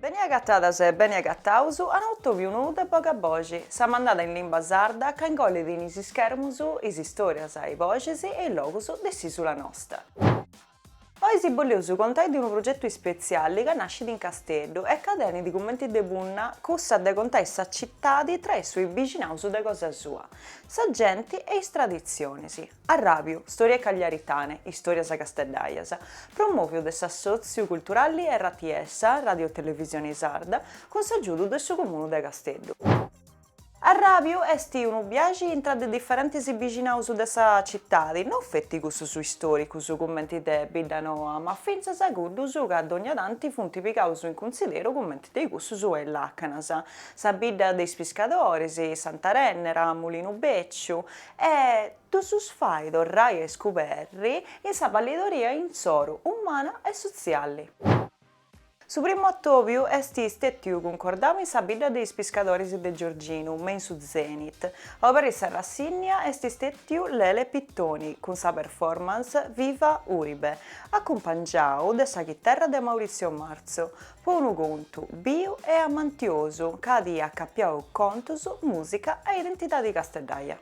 Beni agatadas e beni agataus a un'atòbiu nou de Boga Boxi, sa mandada in limba sarda ca ingollit in is ischermus is istòrias, i boxis e i logus de s'ìsula nosta. Oi si bolleus contai de unu progetu ispetziali ca nascit in Casteddu e ca tenit cumenti de punna cussa de contai sa citadi traessu i bixinaus de cosa sua, sa genti e is traditzionis. Arràbiu, Storie Cagliaritane, Istòrias Casteddaias, promòviu de s'Assòtziu Culturalli RTS, Radiotelevisioni Sarda, cun s'agiudu de su Comunu de Casteddu. Arràbiu est unu biaxi intra de diferentis bixinaus de sa citadi, no feti cussus istòricus cumenti de Biddanoa, ma fintzas a cuddus ca dònnia tanti funt pigaus in cunsideru cumenti de cussus 'e Làcanas, sa Bidda de is Piscadoris, Sant'Arènnera, Mulinu Bèciu, E ddus fai torrai a iscuberri in sa ballidoria insoru umana e sotzialli. Su primu atòbiu est stètiu cuncordau in sa bidda de is piscadoris de Giorginu, me in su Zenit. A oberri sa rassìnnia est stètiu Lele Pittoni cun sa performance Viva Uribe, acumpangiau de sa chiterra de Maurizio Marzo, Po unu contu biu e amantiosu ca at acapiau contus, mùsica e identidadi casteddaia.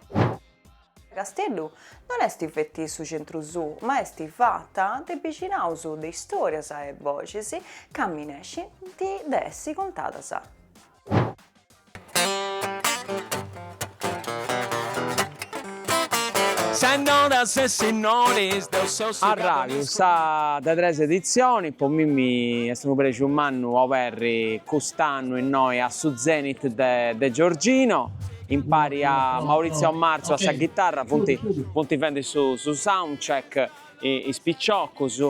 Casteddu non est feti su centru suu, ma est fata de bixinaus de istòrias e boxis ca minescint de essi contadas. Sennoras e sinnoris deu seu su Arraju sa de tres editzionis, po mimmi est unu prexu mannu oberri cust'annu innoi a su Zenit de de Giorgino, impari a Maurizio Marzu a sa ghitarra, funt funt fendi su su soundcheck is piciocus,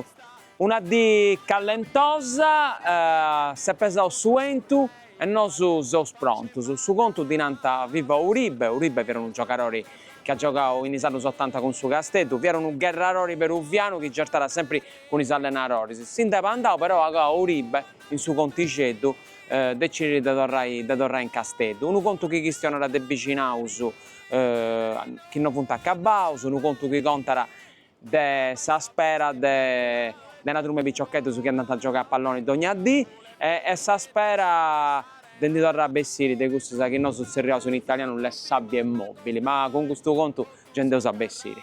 Una dì callentosa, s'est pesau su 'entu e nosu seus prontus. Su contu ddi nant Viva Uribe, Uribe fiat unu giogadori chi at giogau in is annus otanta cun su Casteddu, fiat unu gherrarori peruvianu chi gertàt sempri cun is allenadoris. Si ndi fiat andau però a goa Uribe in su contixeddu, decidit de torrai de torrai in Casteddu. Unu contu chi chistionat de bixinaus chi no funt acabaus, unu contu chi contat de sa spera de de una truma 'e piciocheddus chi andant a giogai a palloni dogna dì e e sa spera de ndi torrai a bessiri de cussas chi nosu tzerriaus in italianu le sabbie mobili, ma cun custu contu gei nd'eus a bessiri.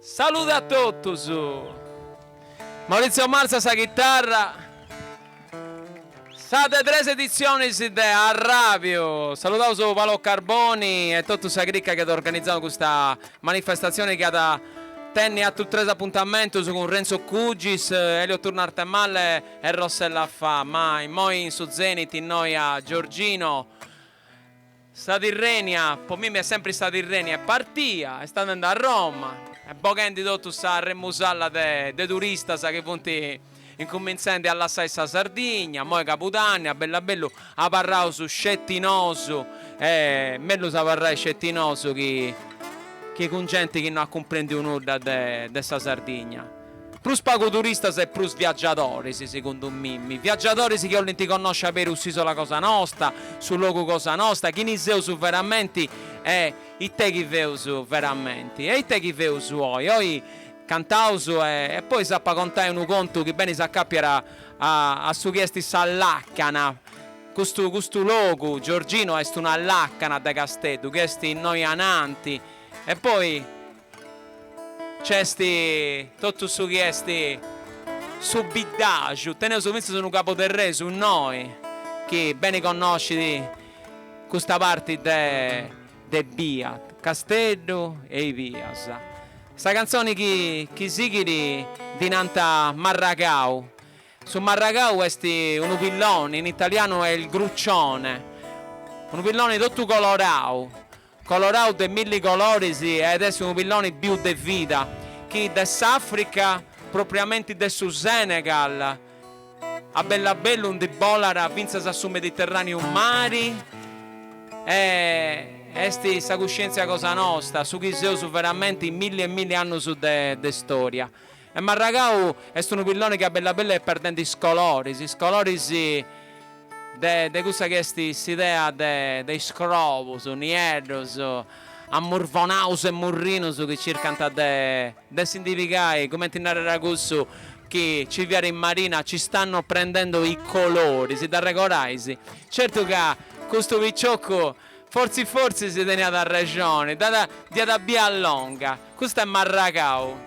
Salude a totus. Maurizio Marzo a sa chitarra. Sa de tres editzionis de Arràbiu. Saludaus Paolo Carboni e totu sa crica chi at organizau custa manifestatzioni chi at a tenni atrus tres apuntamentus cun Renzo Cugis, Elio Turno Arthemalle e Rossella Faa. Ma immoi in su Zenit innoi a Giorgino. Sa Tirrenia, po mimi est sempri sa Tirrenia, est partia, est andende a Roma, est boghendi totu sa remusalla de de turistas chi funt incumintzende a lassai sa Sardigna, imoi Cabudanni, a bellu a bellu abarraus sceti nosu, e mellus abarrai sceti nosu chi chi cun genti chi no at cumprendiu nudda de de sa Sardigna. Prus pagu turistas e prus viagiadoris, segundu mimi. Viagiadoris chi 'olint connosci a beru s'ìsola cosa nosta, su logu cosa nosta, chini seus veramenti e it'est chi feus veramenti. E it'est chi feus oi? Oi cantaus e e poi s'ap a contai unu contu chi beni s'acàpiat a a su chi est sa làcana. Custu custu logu, Giorgino, est una làcana de Casteddu chi est innoi ananti. E poi Nc'est totu su chi est su biddaju, teneus fintzas unu caboterresu innoi chi beni connoscit custa parti de bia, Casteddu e i bias. Sa cantzoni chi sighit ddi nant Marragau. Su marragau est unu pilloni, in italianu est il gruccione, unu pilloni totu colorau, Colorau de milli coloris ed esti unu pilloni biu de vida chi de s'Africa, propriamenti de su Senegal, a bellu a bellu ndi bolat fintzas a su Mediterraneu mari e esti sa cuscientzia cosa nosta, su chi seus veramenti in milli e milli annus de storia. E Marragau est unu pilloni chi a bellu a bellu est perdende is coloris, is coloris de de cussa chi est s'idea de de is crobus, nieddus, ammurvonaus e murrinus chi circant de de si ndi pigai, cumenti narerat cussu chi nci fiat in Marina, ci stanno prendendo i colori, si dd'arregorais? Certu ca custu picioccu fortzis fortzis teniat arrexoni, dd'at dd'iat bia longa. Custa est Marragau.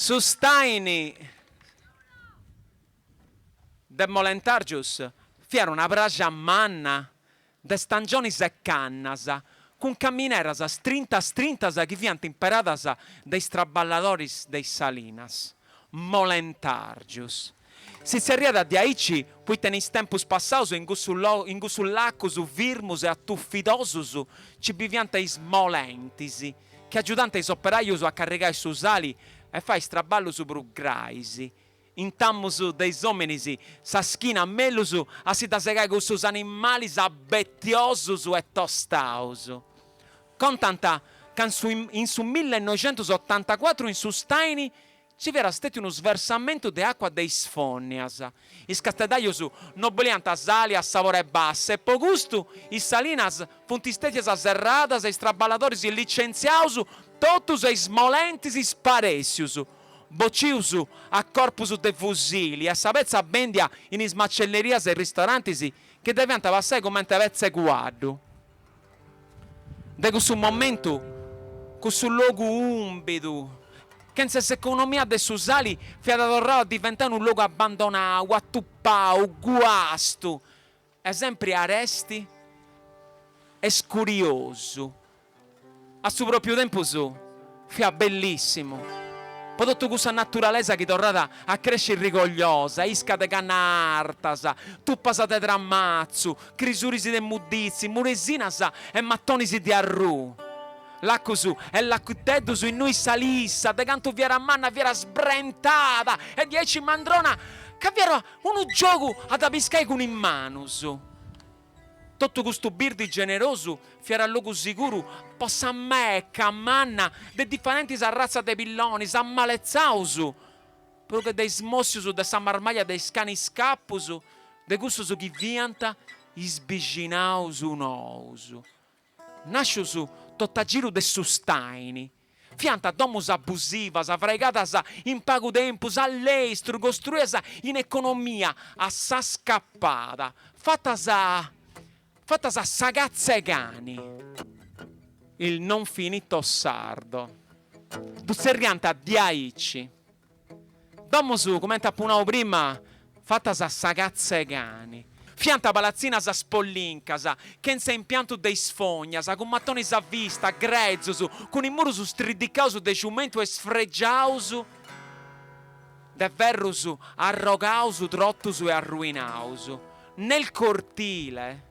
Su staini de Molentàrgius fiat una praja manna de stangionis e cannas, cun camineras strintas strintas chi fiant imperadas de is traballadoris de is salinas. Molentàrgius si tzerriat diaici poita in is tempus passaus in cussu in cussus lacus firmus e atufidosus nci biviant is molentis chi agiudànt is operàius a carrigai su sali e fai is traballus prus grais, Intamus de is òminis sa schina mellus a si dda segai cussus animalis abetiosus e tostaus. Contant ca in su in su millenoixentusottantacuatru in su Staini nci fiat stètiu unu sversamentu de àcua de is fònnias. Is casteddajus no boliant sali a sabori 'e bassa e po custu is salinas funt stètias serradas e is traballadoris licentziaus totus e is molentis sparèssius. bocius a corpus de fusili e sa petza bèndia in is macellerias e ristorantis chi dda fiant passai cumenti a petza 'e cuaddu. De cussu momentu, cussu logu ùmbidu, chentza s'economia de su sali, fiat torrau a diventai unu logu abandonau, atupau, guastu. E sempri aresti e scuriosu. A su pròpiu tempus fiat bellissimu, po totu cussa naturalesa chi torrat a cresci rigogliosa, isca de cannas artas, tupas de tramatzu, crisuris de mudditzi, muresinas e matonis de arrù, lacus e lacutteddus innui sa lissa, de cantu fiat manna, fiat sbrentada e diaici mandrona ca fiat Unu giogu a dda piscai cun is manus. Totu custu birdi generosu fiat logu siguru po sa meca manna de diferentis arratzas de pillonis ammaletzaus, prus che de is mòssius de sa marmàllia de is canis scapus de cussus chi fiant is bixinaus nous. Nàscius tot'a giru de su Staini, fiant domus abusivas, fraigadas in pagu tempus, a lestru, costruidas in economia a sa scapada, fatas fatas a sa catza 'e cani. Il non finito sardo. Ddu tzerriant diaici. Domus, cumenti apu nau prima, fatas a sa catza 'e cani. Fiant palatzinas spollincas, chentza impiantu de is fognas, cun matonis a vista, grezus, cun is murus striddicaus de ciumentu e sfregiaus de ferrus arrogaus, trotus e arruinaus. Nel cortile.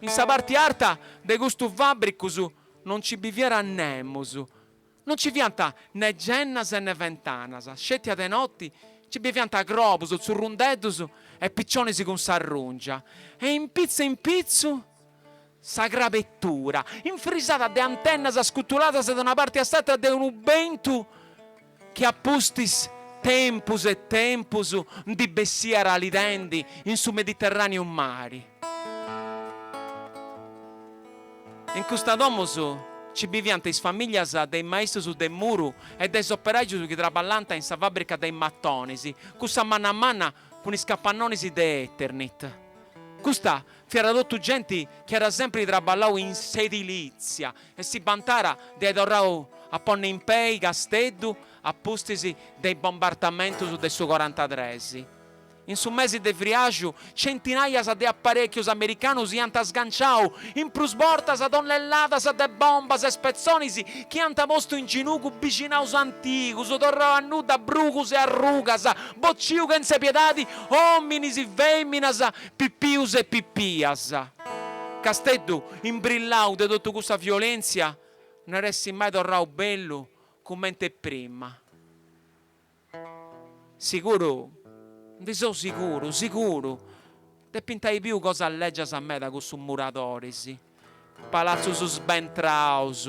In sa parti arta de custu fàbricus non nci biviat nemus, non nci fiant ne gennas e ne ventanas, sceti a de noti nci biviant crobus, tzurrundeddus e picionis cun s'arrùngia, e in pitzu in pitzu sa crabettura, infrisada de antennas scutuladas de una parti a s'atra de unu bentu chi a pustis de tempus e tempus ndi bessiat alidendi in su Mediterràneu mari. In custa domus nci biviant is famìlias de is maistus de muru e de is operàgius chi traballant in sa fàbrica de is matonis, cussa manna manna cun is capannonis de Eternit. Custa fiat totu genti chi at sèmpiri traballau in s'edilìtzia, e si bantàt de ai torrau a ponni in pei Casteddu a pustis de is bombardamentus de su corantatres. In su mesi de friàrgiu centinaias de aparechius americanus iant sganciau in prus bortas tonnelladas de bombas e spetzonis chi iant postu in ginugu bixinaus antigus, torrau a nudda brugus e arrugas, bociu chentza piedadi, ominis, feminas, pipius e pipias. Casteddu Umiliau de totu cussa violèntzia no iat essi mai torrau bellu cument'e prima. Siguru, ndi seu siguru, siguru, depint ai biu cosas lègias meda cussu muradoris, palatzus sbentraus,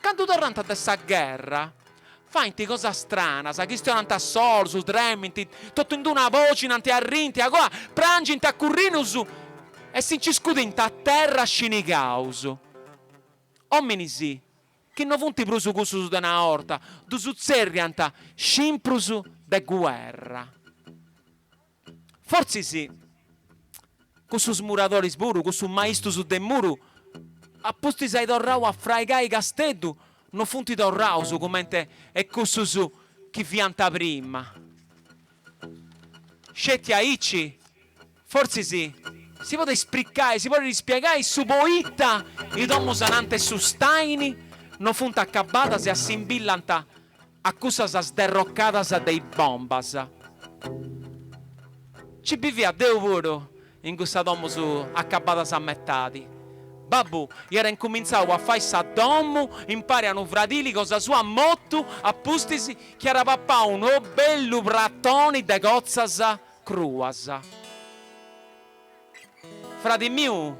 Candu torrant de sa gherra, faint cosas stranas, chistionant a solus, tremint, totu in d-una bòcinant, arrint a cua, prangint a corrinus e si nci scudint a terra scinixaus. Ominis chi no funt prus cussus de una 'orta ddus tzerriant scimprus de guerra. Fortzis cussus muradoris puru, cussus maistus de muru, a pustis ai torrau a fraigai Casteddu, no funti torraus cumenti e cussus chi fianta prima. Sceti aici, fortzis, si podit spriccai, si podit ispiegai su poita i domus ananti 'e su stàini no funt accabadas e assimbillant A cussas sderrocadas de is bombas. Ci bivia deu puru in cussa domus acabadas a metadi. Babbu iat incumintzau a fai sa domu impari a unu fradili cosa sua motu a pustis chi iat papau unu bellu pratoni de cotzas cruas. Fradi miu,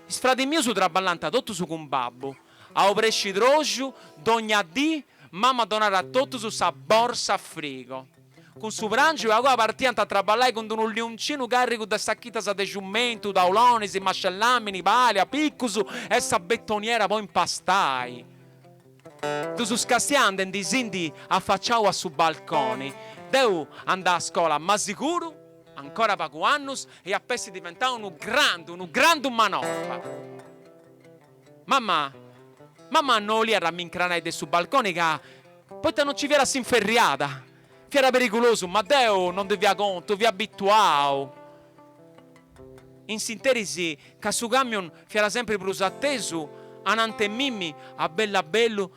is fradis mius traballant totus cun babbu. A obrescidroxu, dogna dì, mama donàt a totus sa borsa frigo. Cun su pràngiu e agoa partiant a traballai cun d-unu liuncinu càrrigu de sachitas de ciumentu, taulonis, mascellàmini, pàlia, picus e sa betoniera po impastai. Ddus castià andendi-si-ndi afaciau a su balconi. Deu andà a scola ma siguru, ancora pagu annus, eia a essi diventau unu grandu, unu grandu manorba. Mamma! Mamma no 'oliat a mi incranai de su balconi ca, poita no nci fiat s'inferriada, fiat perigulosu, ma deu no ndi fia contu, fia abituau, in s'interis ca su camion fiat sempri prus atesu ananti 'e mimmi a bellu a bellu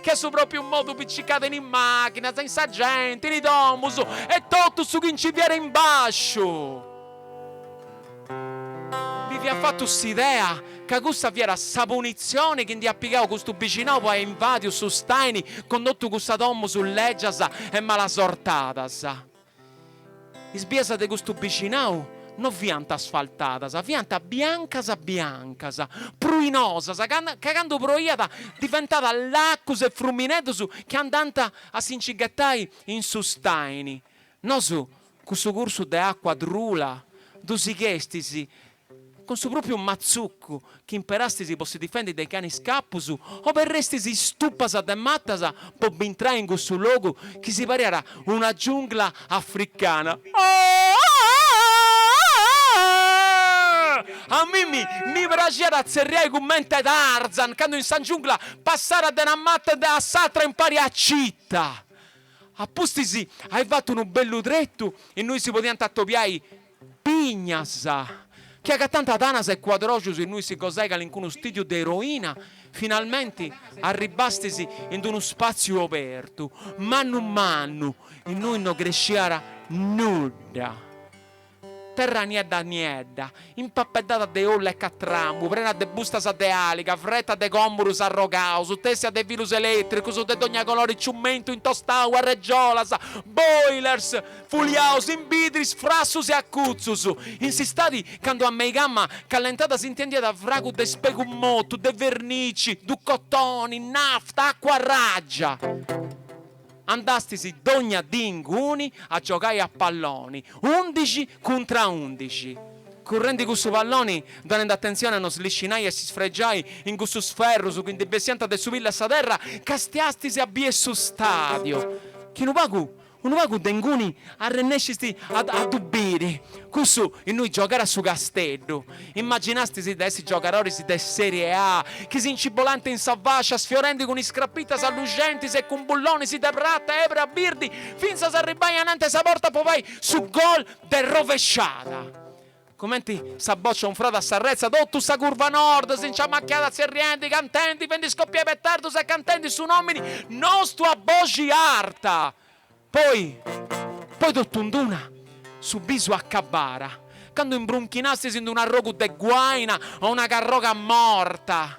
Che a su pròpiu modu picicàt in is màchinas, in sa genti, in is domus e totu su chi nci fiat in bàsciu. Mi fiat fatu s'idea ca cussa fiat sa punitzioni chi nd'iat pigau custu bixinau po ai invàdiu su staini cun totu cussas domus lègias e malasortadas. Is bias de custu bicinau no fiant asfaltadas, fiant biancas biancas, pruinosas, ca candu proiat diventàt lacus e fruminedus chi andànt a si nci ghetai in su staini. Nosu cussu cursu de acua trula ddu sighestis Cun su pròpiu matzucu chi imperastis po si difendi de is canis scapus, oberrestis is tupas de matas po bintrai in cussu logu chi si pariat una giungla africana. A mimmi mi praxiat a tzerriai cummente Tarzan candu in sa giungla passàt de una mata de a s'atra impari a Cita. A pustis ai fatu unu bellu tretu innui si podiant atobiai Pignas, chi agatànt tanas e cuadroxus innui si gosai calincunu stìdiu de eroina, finalmenti arribbastis in d-unu spàtziu obertu, mannu mannu, innui no cresciat nudda. Terra niedda niedda, impapeddada de ollu e catramu, prena de bustas de àliga, freta de còmudus arrogaus, tèssia de filus elètricus de dogna colori ciumentu intostau, arregiolas, boilers, Fuliaus imbidris frassus e acutzus, in s'istadi candu a meigamma callentàt s'intendiat fragu de spegu motu, de vernici, ducotoni, nafta, acuarràgia. Andastis dogna dì inguni a giogai a palloni, undixi cuntra undixi. Currendi cussu palloni, donend atentzioni a no sliscinai e s'isfregiai in cussus ferrus chi ndi bessiant de su pillu 'e sa terra, castiastis a bier su stadiu, chi unu pagu Unu pagu de inguni arrennesciast a ddu biri, cussu innui giogara su Casteddu. Immaginastis de essi giogadoris de Serie A, chi si nci bolànt in sa fascia, sfiorendi cun is crapitas alluxentis e cun bullonis de prata e ebra birdi, fintzas a arribbai ananta 'e sa porta po fai su gol de rovesciada. Cumenti sa bòcia unfrada s'arretza totu sa curva Nord si nci amachiada tzerriendi, cantendi, fendi scopiai petardus e cantendi su nòmini nostu a boxi arta. Poi, poi totu in d'una, su bisu acabara, candu imbrunchinastis in d'un'arrogu de guaina o una carroga morta.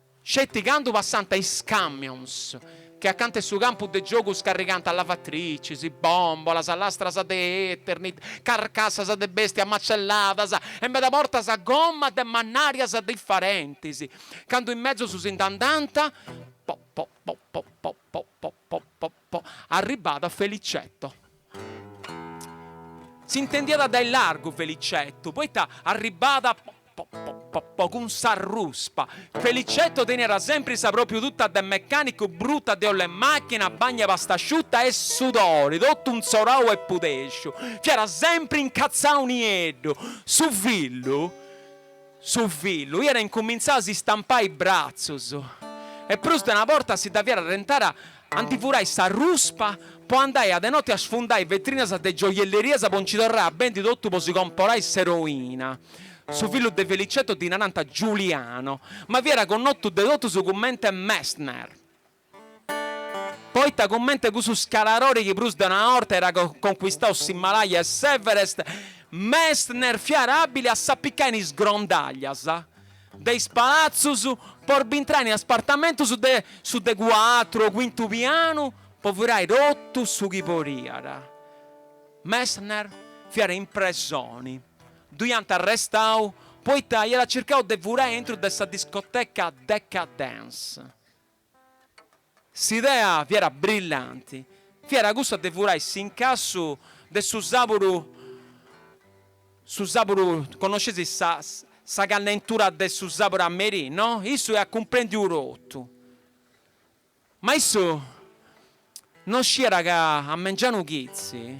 sceti candu passant is camions chi acanta 'e su campu de giogu scarrigant lavatricis, bòmbolas, lastras de Eternit, carcassas de bèstias macelladas e meda bortas gommas de mannàrias diferentis, candu is mezus si nd'andant, po, po, po, po, po, po, po, po, po, Po arribada Felicetto. S'intendiada dae largu Felicetto, poita arribada po po po po po cun sa ruspa. Felicetto teniat sempri sa propriu tuta de mecanicu bruta de oll'e machina, bagna pastasciuta e sudori, totu inzorau e pudexu. Fiat sempri incazzau nieddu. Su fillu. Su fillu iat incumintzau a si stampai bratzus e prus de una borta si dda fiat arrentara a ndi furai sa ruspa po andai a de noti a sfundai vetrinas de gioiellerias po nci torrai a bendi totu po si comporai s'eroina, su fillu de Felicetto ddi narant Giuliano, ma fiat connotu de totus cummente Messner. Poita cummente cussu scalarori chi prus de una 'orta iat concuistau s'Himalaya e s'Everest, Messner fiat abili a s'apicai in is grondaglias de is palatzus po bintrai in is apartamentus de su de cuatru o cuintu pianu po furai totu su chi podiat. Messner fiat in presoni, ddu iant arrestau poita iat circau de furai aintru de sa discoteca Decadence. S'idea fiat brillanti, fiat cussa de furai s'incassu de su sàburu, su sàburu, connosceis sa sa callentura de su sàburu a merì, no? Issu iat cumprèndiu totu. Ma issu non sciiat ca a mengianu chitzi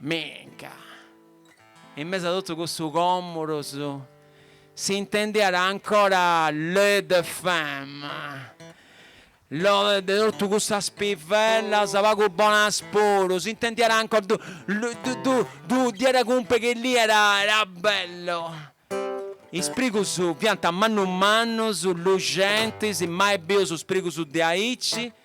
Minca! In mesu a totu cussu comurus si intendiat ancora Le de femme, lo de totu cussas pivellas pagu bonas puru, si intendiat ancora du du du diat cumpriri chi lì era era bellu. Is sprigus fiant mannus mannus, luxentis, mai bius sprigus de aici.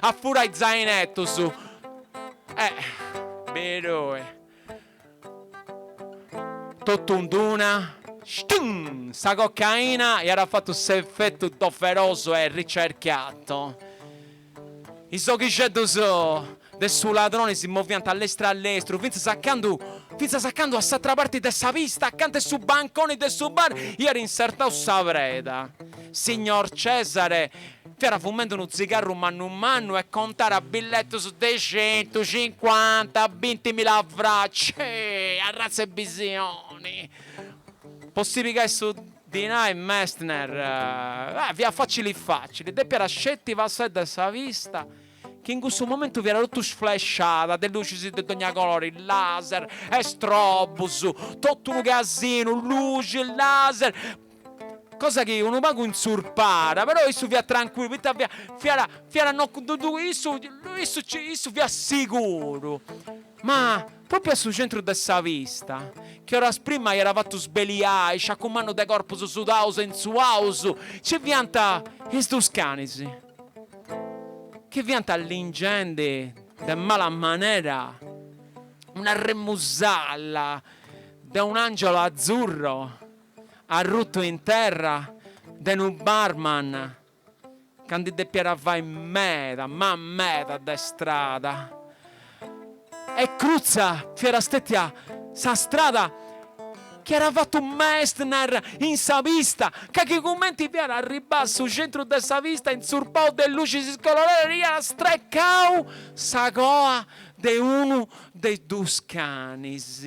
a furai zainetus eh però totu in d'una stum sa cocaina iat fatu s'effetu doveroso e ricercato is oghixeddus de su ladroni si moviant a lestru a lestru fintzas a candu fintzas a candu a s'atra parti de sa pista acanta 'e su banconi de su bar iat insertau sa preda signor Cesare Fiat fumende unu tzigarru mannu mannu e contàt billetus de centu, cincuanta, bintimila francus. Ceh! Arratza 'e bisioni! Po si pigai su dinai Messner, beh, fiat facili facili, depiat sceti passai de sa pista, chi in cussu momentu fiat totu sflesciada de lucis de dogna colori, laser e strobos, totu unu casinu, lucis, laser, Cosa chi unu pagu intzurpàt, però issu fiat trancuillu, poita fiat fiat fiat no ddu ddu issu issu nci issu fiat siguru. Ma, pròpriu a su centru de sa pista, chi oras prima iat fatu sbeliai, sciacu mannu de corpus sudaus e intzuaus, nci fiant is dus canis, chi fiant lingendi de mala manera una remusalla de un'angelo azzurro. Arrutu in terra de unu barman ca ndi depiat fai meda, ma meda de strada. E crutza fiat stètia sa strada chi iat fatu Messner in sa pista, ca chi cumenti fiat arribbau a su centru de sa pista intzurpau de lucis coloradas iat strecau sa coa de unu de is dus canis.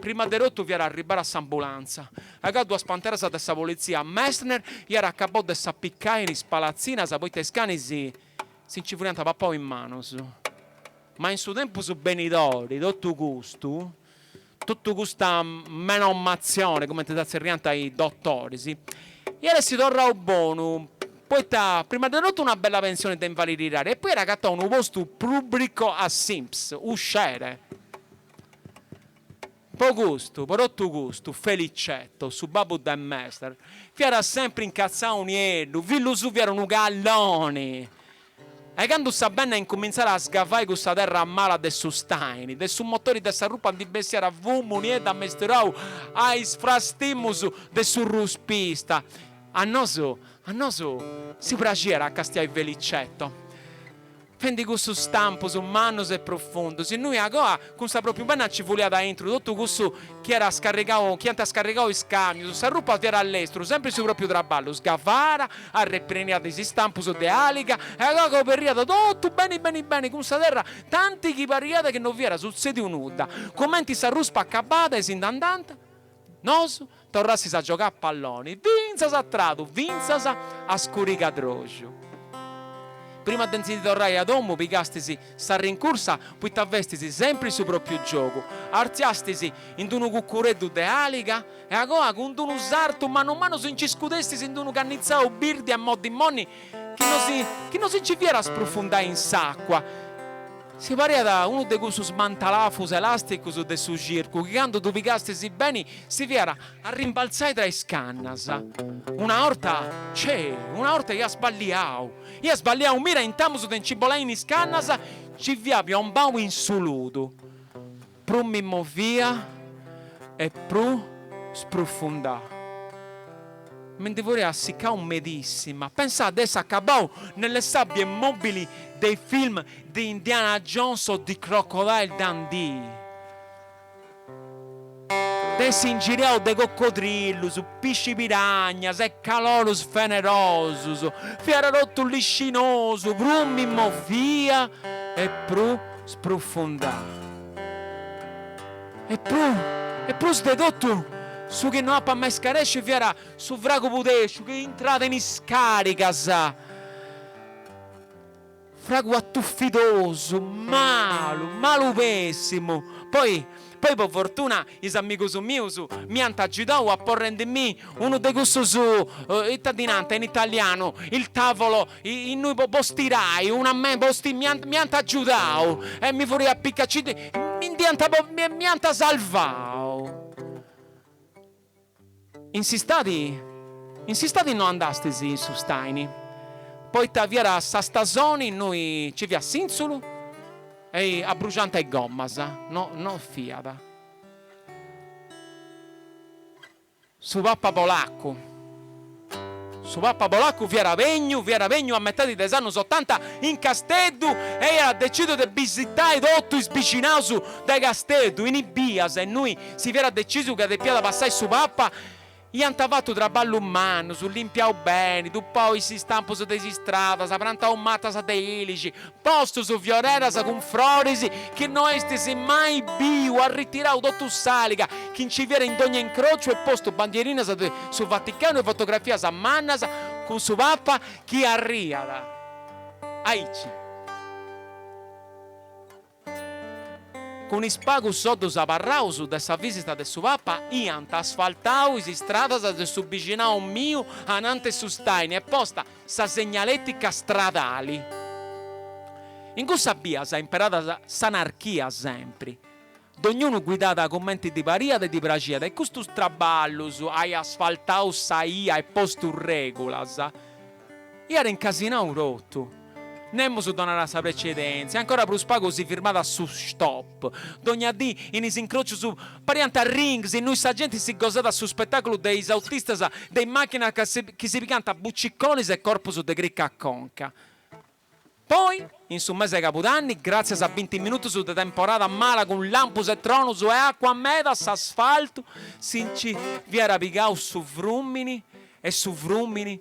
Prima de totu fiat arribada s'ambulanza, agoa duas panteras de sa politzia, Messner iat acabau de s'appicai in is palatzinas poita is canis si nci furiant papau is manus. Ma in su tempus benidori, totu custu, totu custa menomatzioni, cumenti dda tzerriant is dotoris, iat essi torrau bonu, poita prima de totu una bella pensioni de invalididadi e poi iat agatau unu postu pùbricu a s'Inps. Uscere! Po custu, po totu custu, Felicetto, su babbu de Messner, fiat sempri incatzau nieddu, fillu suu fiat unu calloni e candu sa benna incumintzàt a sgavai cussa terra mala de su staini, de su motori de sa ruspa ndi bessiat fumu nieddu amesturau a is frastimus de su ruspista. A nosu, a nosu si praxiat a castiai Felicetto. fendi cussus stampus mannus e prufundus, innui agoa cun sa propriu benna nci fuliat aintru totu cussu chi iat scarrigau, chi ant scarrigau is camius, s'arruspa fiat a lestru, sempri su propriu traballu, sgavara, arrepreniat is stampus de aliga e agoa coberriat totu beni beni beni cun sa terra tanti chi pariat chi no fiat sutzediu nudda, cumenti s'arruspa acabada e si nd'andant. Nos torrastis a giogai a palloni fintzas a tradu fintzas a scurigadroxu. Prima de nci torrai a domu pigastis sa rincursa poita festis sempri su propriu giogu, artziastis in d'unu cucureddu de aliga e agoa cun d'unu sartu mannu mannu si nci scudestis in d'unu cannitzau birdi e moddi moddi Chi no si, chi no si nci fiat sprufundai in s'àcua. Si pariat unu de cussus mantalafus elàsticus de su circu chi candu ddu pigastis beni si fiat arrimbaltzai tra is cannas. Una 'orta, cei, una 'orta ia sballiau, ia sballiau mira intamus de nci bolai in is cannas, nci fia piombau in su ludu. Prus mi movia e prus sprufundau. Mi ndi furia assiccau medissima. Pensau de essi acabau nelle sabbie mobili dei film di Indiana Jones o di Crocodile Dundee. De essi ingiriau de coccodrillus, pisci piragnas e calorus fenerosus. Fiat totu liscinosu, prus mi movia e prus sprufundau. E prus, e prus de totu, su chi no apu a mai scaresci fiat su fragu pudesciu chi intràt in is càrigas, fragu atufidosu, malu, malu pèssimu. Poi, poi po fortuna is amigus mius m'iant agiudau aporrendi mi unu de cussus, ita ddi nant in italianu, il tavolo Innui po bos tirai una me bos ti mi ant mi ant agiudau e mi furia apiccau ci ti mi ndi ant po mi mi ant salvau. In s'istadi in s'istadi no andastis in su staini poita fiat sa stasoni innui ci fiat sìntzulu e abruxanta is gommas no no fiat. Su Papa Polaccu Su Papa Polaccu fiat bènniu fiat bènniu a metadi de is annus otanta in Casteddu e iat decìsiu de bisitai totu is bixinaus de Casteddu. In is bias innui si fiat decìsiu ca depiat passai su Papa iant fatu traballus mannus, limpiau beni, tuppau is istampus de is istradas, prantau matas de ilixi, Postus fioreras cun froris chi no eis mai biu, arritirau totu s'àliga chi nci fiat in dogna incrociu e postu bandierinas de su Vaticanu e fotografias mannas cun su Papa chi arriat aici cun is pagus soddus abarraus de sa visita de su Papa iant asfaltau is istradas de su bixinau miu ananti 'e su staini e posta sa segnaletica stradali. In cussa bia imperàt s'anarchia sempri, dognunu guidàt cumenti ddi pariat e ddi praxiat e custus traballus, ai asfaltau sa 'ia e postu règulas, iat incasinau totu. Nemus donàt sa precedèntzia, ancora prus pagu si firmàt a su stop. Dogna dì, in is incròcius, pariant rings innui sa genti si gosàt su spetàculu de is autistas de is màchinas chi si pigànt a buciconis e corpus de crica a conca. Poi, in su mese de cabudanni, gràtzias a binti minutus de temporada mala cun lampus e tronus e acua meda s'asfaltu, si nci dd'iat pigau su frùmini e su frùmini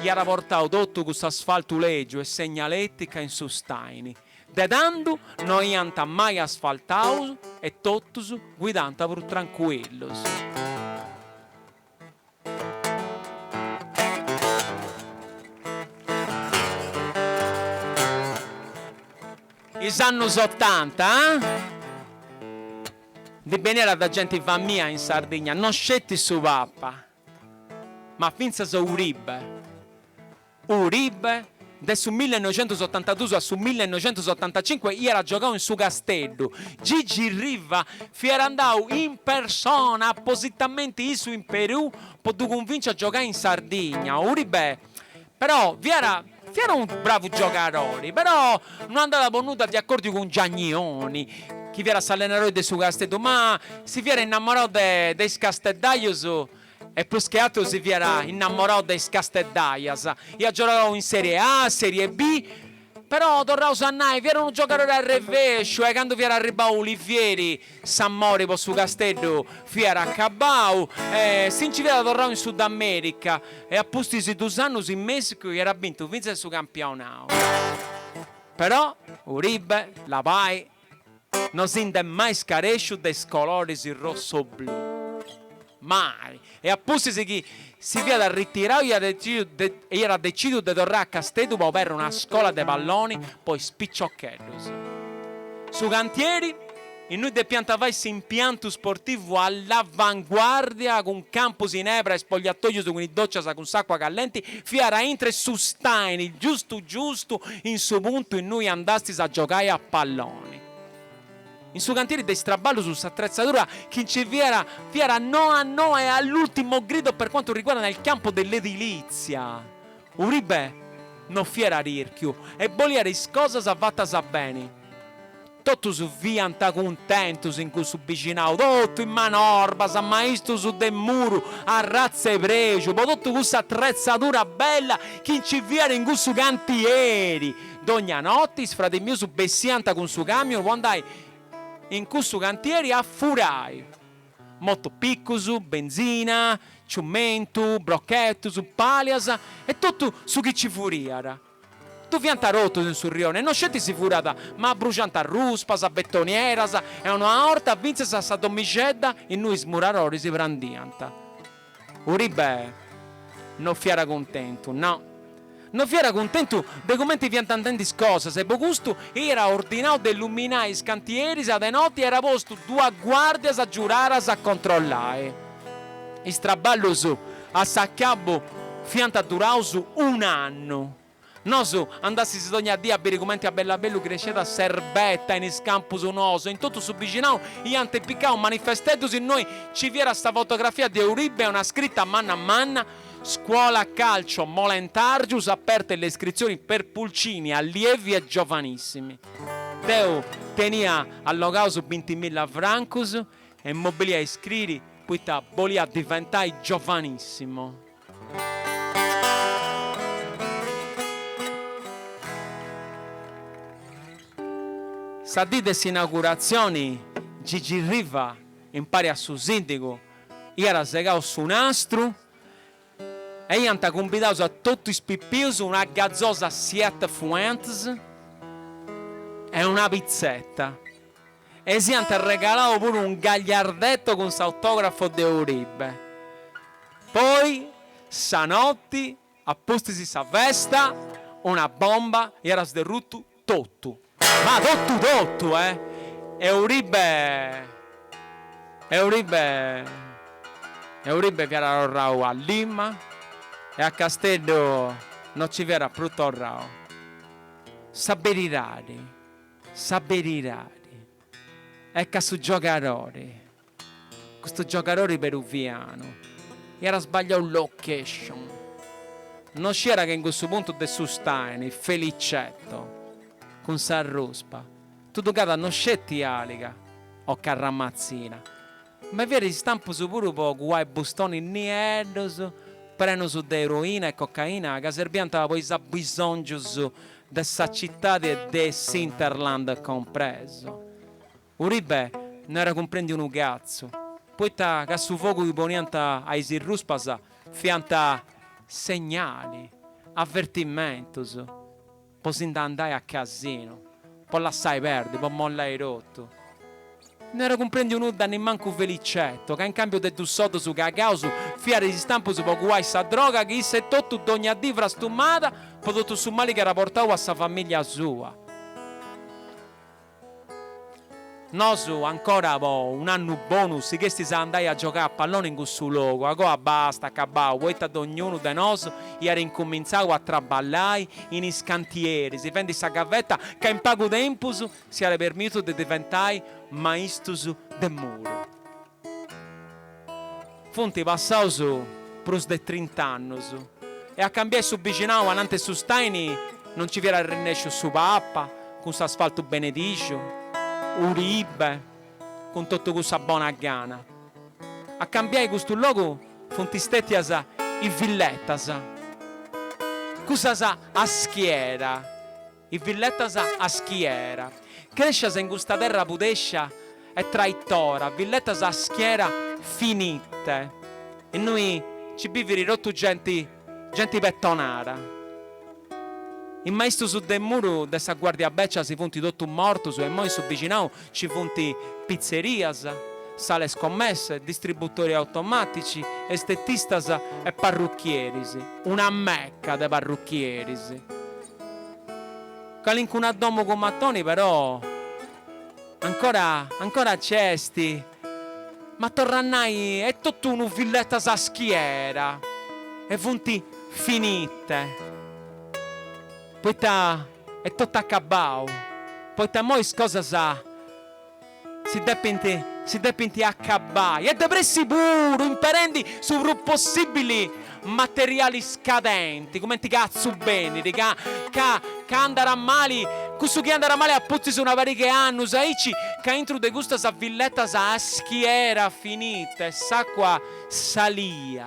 iat portau totu cuss'asfaltu lègiu e segnaletica in su staini. De tandu no iant mai asfaltau prus e totus guidànt prus trancuillus. Is annus otanta ndi beniat de genti famìa in Sardigna, no sceti su Papa. Ma fintzas Uribe, Uribe, de su millenoixentusotantaduus a su millenoixentusotantacinque iat giogau in su Casteddu, Gigi Riva fiat andau in persona appositamenti issu in Perù po ddu cunvinci a giogai in Sardigna, Uribe Però fiat fiat unu bravu giogadori, però no andàt po nudda de acòrdiu cun Giagnoni, chi fiat s'allenadori de su Casteddu, ma si fiat innamorau de de is casteddajus e prus che ateru si fiat innamorau de is casteddajas, iat giogau in Serie A, Serie B Però, torraus a nai, fiat unu giogadori arrevesciu e candu fiat arribbau Ulivieri s'amori po su Casteddu fiat acabbau e si nci fiat torrau in Sudamerica e a pustis de dus annus in Messicu iat bintu fintzas su campionau. Però, Uribe, labai, No si nd'est mai scaresciu de is coloris rosso-blu. Mai! E a pustis chi si fiat arritirau iat decidiu de e iat decìdiu de torrai a Casteddu po aberri una scola de palloni po is piciocheddus. Su cantieri, innui depiant fai s'impiantu sportivu all'avanguardia cun campus in ebra e spogliatoius cun is dòcias cun s'àcua callenti Fiat a intre su staini giustu giustu in su puntu innui andastis a giogai a palloni. In su cantiri de is traballus s'atretzadura chi nci fiat fiat noa noa e all'ultimo grido per quanto riguarda nel campo dell'edilizia. Uribe no fiat tirchiu e boliat is cosas fatas beni. Totus fiant cuntentus in cussu bixinau, totu is manorbas, maistus de muru, arratza 'e prexu, po totu cussa atretzadura bella chi nci fiat in cussu cantieri. Dogna notti is fradis mius bessiant cun su camion po andai in cussu cantieri a furai. Motopicus, benzina, ciumentu, brochetus, palias e totu su chi nci furiat. Ddu faiant totus in su rione, no sceti si furat, ma abbruxant ruspas, betonieras e una 'orta fintzas a sa domixedda innui is muraroris prandiant. Uribe no fiat cuntentu, no. No fiat cuntentu de cumenti fiant andendi is cosas e po custu iat ordinau de illuminai is cantieris a de noti e iat postu duas guàrdias giuradas a controllai. Is traballus a s'acabu fiant duraus un'annu. Nosu andassis dogna dì a biri cumenti a bellu a bellu cresciat s'erbetta in is campus nous e in totu su bixinau iant apicau manifesteddus innui nci fiat sa fotografia de Uribe e una scrita manna manna, Scuola Calcio Molentàrgius, aperte le iscrizioni per pulcini, allievi e giovanissimi. Deu tenia allogaus bintimilla francus E mi bolia iscriri poita bolia diventai giovanissimo. Sa dì de s'inauguratzioni Gigi Riva impari a su sindigu iat segau su nastru e iant cumbidaus a totu is pipius una gazosa Siete Fuentes e una pitzeta. E s'iant arregalau puru un gagliardetto cun s'autografo de Uribe. Poi, sa notti a pustis sa festa, una bomba iat sderrutu totu, ma totu totu, eh! E Uribe, e Uribe, e Uribe fiat torrau a Lima e a Casteddu no ci fiat prus torrau. Sa beridadi. Sa beridadi est ca su giogadori, custu giogadori peruvianu, iat sbagliau location, no sciiat ca in cussu puntu de su staini Felicetto cun sa ruspa, tuducada no sceti àliga o carramatzina, Ma fiat istampus puru po cuai bustonis nieddus, prenus de eroina e cocaina, ca serbiant po is abisòngius de sa citadi e de s'Interland compresu. Uribe no era cumprendiu unu catzu, poita ca su fogu chi poniant a is irruspas fiant segnali, avertimentus. Po si nde andai a casinu. Po lassai perdi, po mollai totu. No era cumprendiu nudda nimmancu Felicetto, ca in cambiu de dus soddus cagaus fiat is istampus po cuai sa droga chi issu etotu dogna dì frastumada po totu su mali chi era portau a sa famìllia sua. Nosu ancora po un'annu bonu sighestis a andai a giogai a palloni in cussu logu, agoa basta, acabau, poita dognunu de nosu iat incumintzau a traballai in is cantieris, fendi sa gaveta ca in pagu tempus s'iat permìtiu de diventai maistus de muru. Funt passaus prus de trint'annus e a cambiai su bixinau ananti su staini no nci fiat arrennesciu su Papa cun s'asfaltu benedìxiu, Uribe cun totu cussa bona gana. A cambiai custu logu funt stètias is villetas, cussas a schiera. I villetas a schiera. Crescias in custa terra pudescia e traitora, villetas a schiera finite. Innui ci biviri totu genti, genti pettonara. I maistus de muru de sa guardia beccia si funti totu mortus e immoi in su bixinau ci funti pizzerias, sale scommesse, distributori automatici, estetistas e parruchieris. Una mecca de parruchieris. Calincuna domo cun mattoni però ancora ancora c'est ma torra a nai est totu unu villettas a schiera e funt finite poita est totu acabbau poita immoi is cosas Si depint si depint acabbai e de pressi puru, imperendi su prus possibili materiali scadenti, cumenti catzu beniri, ca ca ca andat mali, cussu chi andat mali apustis una pariga 'e annus aici, ca intru de custas villetas a schiera finite e s'acua salia.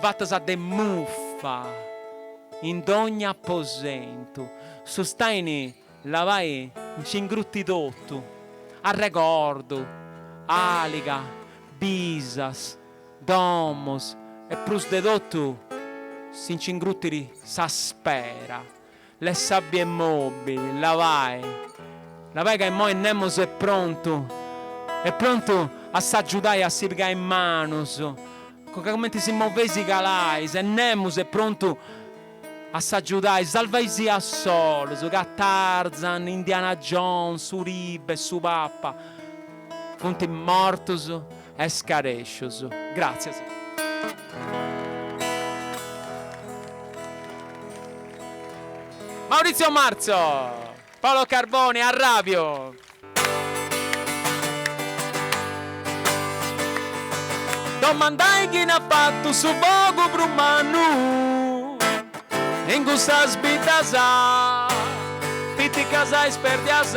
Fatas de muffa in dogni aposentu. Su staini labai nci ingrutit totu, arregordu, aliga, bisus, domus e prus de totu si nci ingrutiri sa spera. L'est sa bie mobi, labai. Labai ca immoi nemos est prontu, est prontu a s'agiudai a si pigai manus, conca cumenti si moveis si calais e nemos est prontu a s'agiudai, salvai·sì a solus, ca Tarzan, Indiana Jones, Uribe, su Papa, funt mortus. Escarèscius. Gràtzias. Maurizio Marzo. Paolo Carboni, Arrabiu. Domandai chini at fatu su fogu prus mannu in cussas biddhas piticas ispèrdias.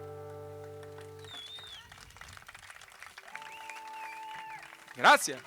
Grazie.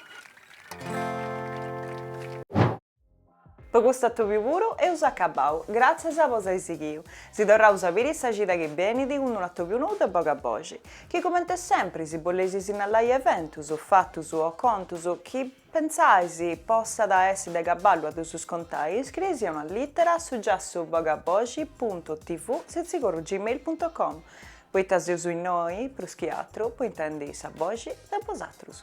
Po custu atobiu puru eus acabau, gràtzias po s'ai sighiu. Si torraus a biri sa cida chi benit cun unu atobiu nou de Bogaboxi. Chi comente sempri si boleis sinnalai eventus, fatus o contus chi. Pentzais possat essi de cabali a ddus contai, iscriei·sì una lìtera a su giassu bogaboxi puntu tv sitzigorru gmail puntu com, poita seus innoi, prus chi atru, po intendi sa boxi de bosatrus.